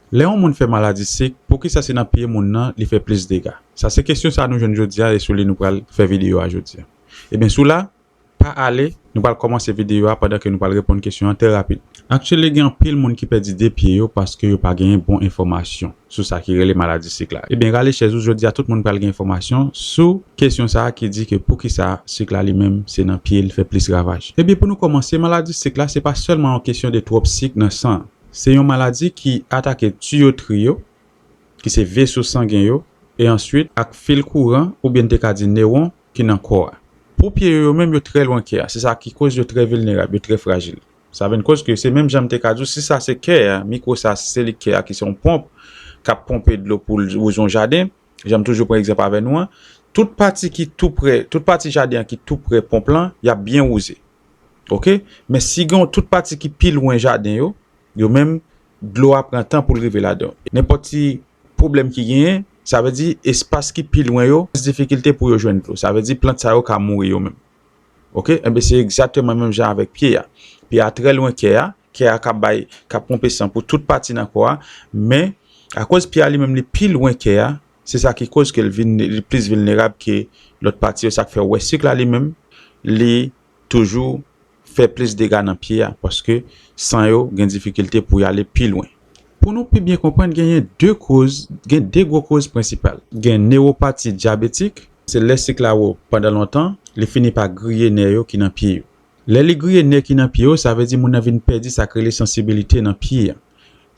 Lè yon moun fè maladi sik, poukisa se nan pye moun nan li fè plis dega? Sa se kesyon sa nou jwenn jodi a e sou li nou pral fè videyo a jodi a. Ebyen sou la, pa ale, nou pral kòmanse videyo a pandan ke nou pral reponn kesyon an trè rapid. Actually gen anpil moun ki pèdi 2 pye yo paske yo pa genyen bon enfòmasyon sou sa ki rele maladi sik la. Ebyen rale chèz ou, jodi a tout moun pral gen enfòmasyon sou kesyon sa ki di ke poukisa sik la li menm se nan pye li fè plis ravaj. Ebyen pou nou kòmanse, maladi sik la se pa sèlman yon kesyon de twòp sik nan san an. Se yon maladi ki atake tuyotri yo, ki se veso sangen yo, e answit ak fil kouran oubyen n te ka di newon ki nan kò a. Pou pye yo, yo menm yo trè lwen kè a, se sa ki koz yo trè vilnerab, yo trè frajil. Sa vin koz ke se menm jan m te ka di w si sa se kè a, mikwo sa si se li kè a ki se yon ponp k ap ponpe dlo pou l wouze yon jaden, jan m toujou pran egzanp avè nou an, tout pati ki tou prè, tout pati jaden an ki tou prè ponp lan, y ap byen wouze. ok men si gen yon tout pati ki pi lwen jaden yo yo menm dlo a pran tan poul rive ladan nenpòt ti pwoblèm ki genyen sa vle di espas ki pi lwen yo plis difikilte pou yo jwenn dlo sa vle di plant sa yo ka mouri yo menm ok enben se egzakteman menm jan avèk pye a pye a trè lwen kè a kè a kap bay kap ponpe san pou tout pati nan kò a men akoz pye a li menm li pi lwen kè a. Se sa ki koz ke li plis vilnerab ke lòt pati yo, sa k fè ou wè sik la li menm li toujou fè plis dega nan pye a paske san yo gen difikilte pou y ale pi lwen. Pou nou pi byen konprann genyen 2 koz, gen 2 gwo koz prensipal. Gen newopati dyabetik, se lè sik la wo pandan lontan li fini pa griye nè yo ki nan pye yo. Lè li griye nè ki nan pye yo sa vle di moun nan vin pèdi sa k rele sansibilite nan pye a.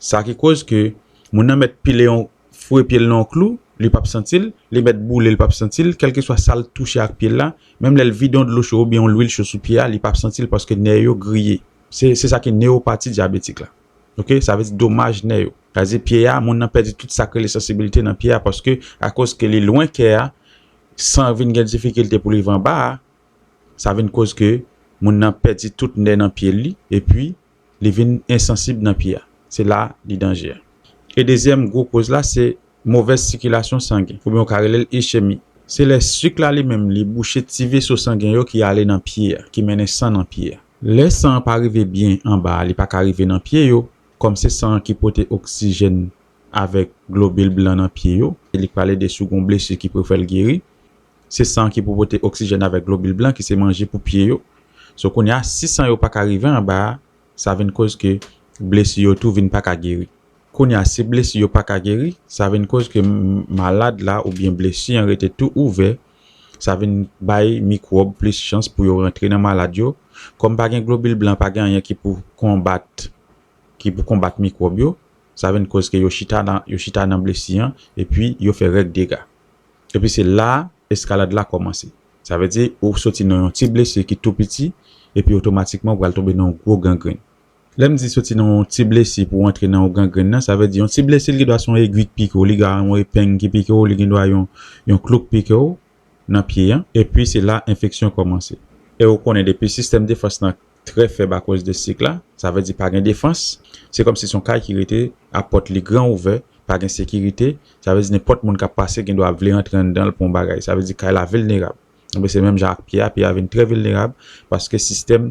Sa ki koz ke moun nan mèt pile yon fwe pye l nan yon klou, li pap santi l, li mèt boule l pap santi l, kèlkeswa sa l touche ak pye l la, menm lè l vide yon dlo cho oubyen yon lwil cho sou pye a li pap santi l paske nè yo griye. Se se sa ki neyopati dyabetik la. Ok, sa vle di domaj nè yo. Sa vle di pye a, moun nan pèdi tout sa k rele sansibilite nan pye a paske akoz ke li lwen kè a, san vin gen difikilte pou l rive anba a, sa vin koz ke moun nan pèdi tout nè nan pye li epi li vin ensansib nan pye a, se la li danje a. E dezyèm gwo koz la se movèz sikilasyon sangen oubyen ou ka rele l ischemi. Se lè sik la li menm li bouche ti veso sangen yo ki ale nan pye a, ki mennen san nan pye a. Lè san an pa rive byen anba a li pa ka rive nan pye yo, kòm se san an ki pote oksijèn avèk globil blan nan pye yo, li pral ede si w gen yon blesi ki pou fè l geri, Se san ki pou pote oksijèn avèk globil blan ki se manje pou pye yo. So kounye a si san yo pa ka rive anba a, sa vin koz ke blesi yo tou vin pa ka geri. Kounye a si blesi yo pa ka geri, sa vin koz ke malad la oubyen blesi an rete tou ouvè, sa vin bay mikwòb plis chans pou yo rantre nan malad yo. Kòm pa gen globil blan, pa gen anyen ki pou konbat ki pou konbat mikwòb yo, sa vin koz ke yo chita nan yo chita nan blesi an epi yo fè règ degat. Epi se la a eskalad la kòmanse. Sa vle di ou soti nan yon ti blese ki tou piti epi otomatikman ou pral tonbe nan yon gwo gangrenn. Lè m di soti nan yon ti blese pou w antre nan yon gangrenn nan, sa vle di yon ti blese li gen dwa se yon egwi k pike w, li gen dwa yon epeng ki pike w, li gen dwa yon yon klou k pike w nan pye an. Epi se la enfeksyon kòmanse. E ou konnen depi sistèm defans lan trè fèb akoz de sik la, sa vle di pa gen defans, se kòm si son kay ki rete a pòt li gran ouvè, pa gen sekirite, sa vle di nenpòt moun kap pase gen dwa ap vle rantre anndan l pou yon bagay, sa vle di kay la vilnerab, enben se menm jan ak pye a, pye a vin trè vilnerab paske sistèm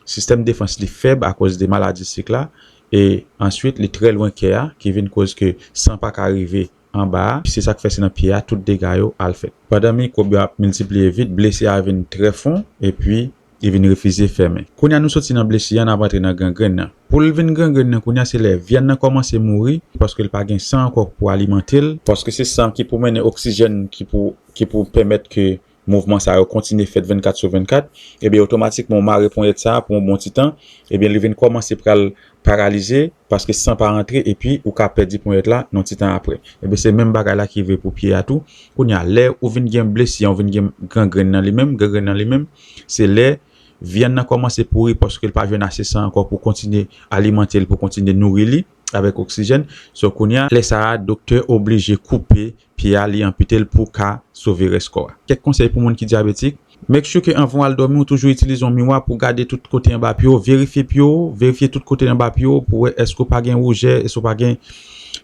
sistèm defans li fèb akoz de maladi sik la e answit li trè lwen kè a ki vin koz ke san pa ka rive anba a, se sa k fè se nan pye a tout dega yo al fèt. Pandan mikwòb yo ap miltipliye vit, blesi a vin trè fon epi li vin refize fèmen. Kounye a nou soti nan blesi a, n ap antre nan gangrenn nan. Pou l vin gangrenn nan kounye a, se lè vyann nan kòmanse mouri paske l pa gen san ankò pou alimante l, paske se san ki pou mennen oksijèn ki pou pèmèt ke mouvman sa yo kontinye fèt 24 sou 24, ebyen otomatikman ou mare ponyèt sa a pou yon bon ti tan, ebyen li vin kòmanse pral paralize paske san pa rantre epi ou ka pèdi ponyèt la yon ti tan aprè. Ebyen se menm bagay la ki vre pou pye a tou, kounye a lè ou vin gen blesi an ou vin gen gangrenn nan li menm, gangrenn nan li menm se lè vyann nan kòmanse pouri paske l pa jwenn ase san ankò pou kontinye alimante l pou kontinye nouri li avèk oksijèn, so kounye a lè sa a doktè oblije koupe pye a li anpite l pou ka sove rès kò a. Kèk konsèy pou moun ki dyabetik, Make sure ke anvan w al dòmi ou toujou itilize yon miwa pou w gade tout kote anba pye w, verifye pye w, verifye tout kote anba pye w pou wè èske w pa gen woujè, èske w pa gen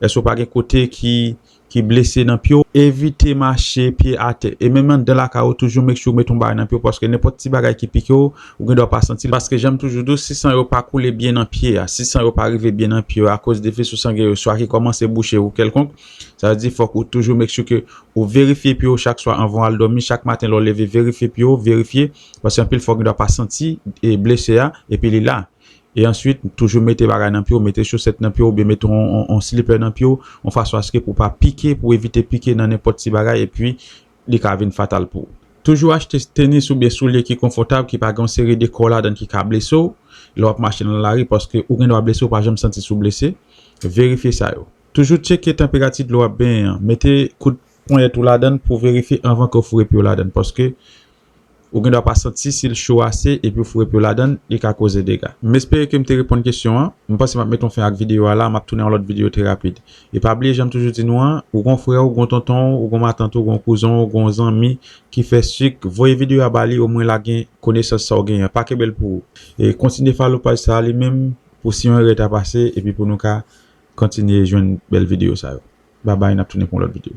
èske w pa gen kote ki ki blese nan pye w. Evite mache pye atè e menm anndan lakay ou toujou make sure ou mete yon bagay nan pye w paske nenpòt ti bagay ki pike w, ou gen dwa pa santi l paske jan m toujou di w si san yo pa koule byen nan pye a, si san yo pa rive byen nan pye a akoz de vesosangè yo swa ki kòmanse bouche ou kèlkonk, Sa vle di fòk ou toujou make sure ke ou verifye pye w chak swa anvan w al dòmi, chak maten lè w leve verifye pye w, verifye, paske anpil fwa w gen dwa pa santi blese a epi li la. E answit toujou mete bagay nan pye w, mete chosèt nan pye w oubyen mete yon slipè nan pye w yon fason aske pou w pa pike, pou w evite pike nan nenpòt ti bagay epi li ka vin fatal pou ou. Toujou achte tenis oubyen soulye ki konfòtab ki pa gen yon seri de kò ladan ki ka blese w lè w ap mache nan lari paske ou gen dwa blese w pa janm santi si w blese, verifye sa yo. Toujou tcheke tanperati dlo wap benyen an, mete kout ponyèt ou ladann pou verifye anvan ke w foure pye w ladann paske ou gen dwa pa santi si l cho ase epi w foure pye w ladann li ka koze dega. M espere ke m te reponn kesyon an. M panse m ap met yon fen ak videyo a la, m ap tounen yon lòt videyo trè rapid. E pa bliye jan m toujou di nou an, ou gen yon frè w, gen yon tonton w, ou gen yon matant ou, gen yon kouzen w, gen yon zanmi ki fè sik, voye videyo a ba li omwen lage konesans sa w genyen an, pa kenbe l pou ou. E kontinye follow paj sa a li menm pou si yon erè ta pase epi pou nou ka Kontinye jwenn bèl video sa yo. Babay nap tounen pou yon lòt video.